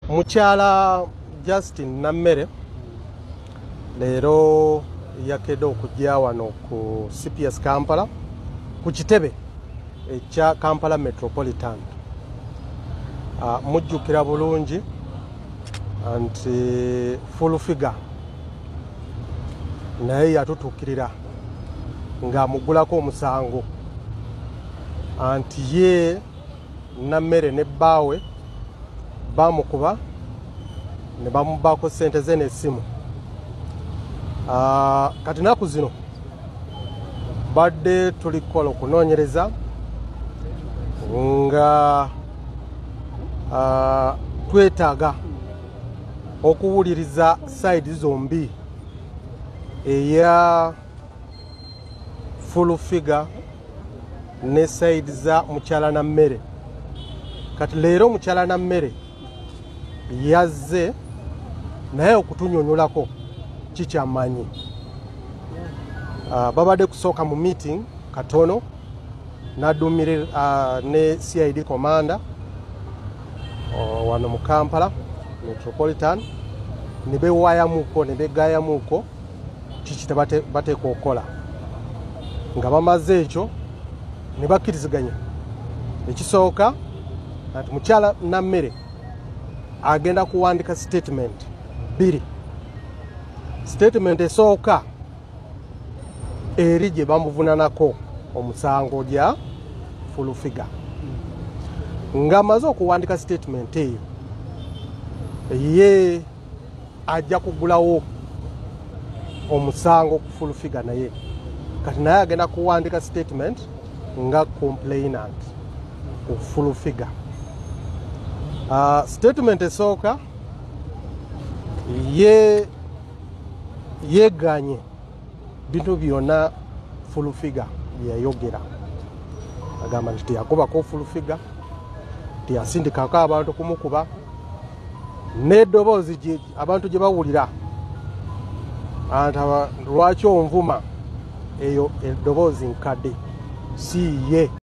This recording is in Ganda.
mukyala justin nammere leero yakede okujja wano ku cps kampala ku kitebe ekya kampala metropolitan ah, mujjukira bulungi nti full figure naye yatutuukirira ng'amugulako omusango anti ye nammere ne bbaawe baamukuba ne bamubaako ssente ze n'essimu ah, kati naku zino badde tuli kukola okunoonyereza nga ah, twetaaga okuwuliriza sayidi zombi eya full figure ne side za mukyala na mmere kati leero mukyala na mmere yazze naye okutunyonyolako kikyamanyi ah, babadde kusooka mu meeting katono nadumire uh, ne cid commander uh, wano mu kampala metropolitan nebewayamuko nebegayamuko kiki bateekwa okukola nga bamaze ekyo ne bakkiriziganya ekisooka nti mukyala nammere agenda kuwandika statement bbiri statement esooka eri gye bamuvunanako omusango gya fulufiga ng'amaze okuwandika statement eyo ye ajja kugulawo omusango ku full figure naye kati naye agenda kuwandika statement nga complainant ku full figure uh, statement esooka ye yeganye bintu byona full figure byeyayogera agamba nti teyakubako full figure teyasindikako abantu kumukuba n'eddoboozi abantu gye bawulira lwaki onvuma eyo eddoboozi nkadde si ye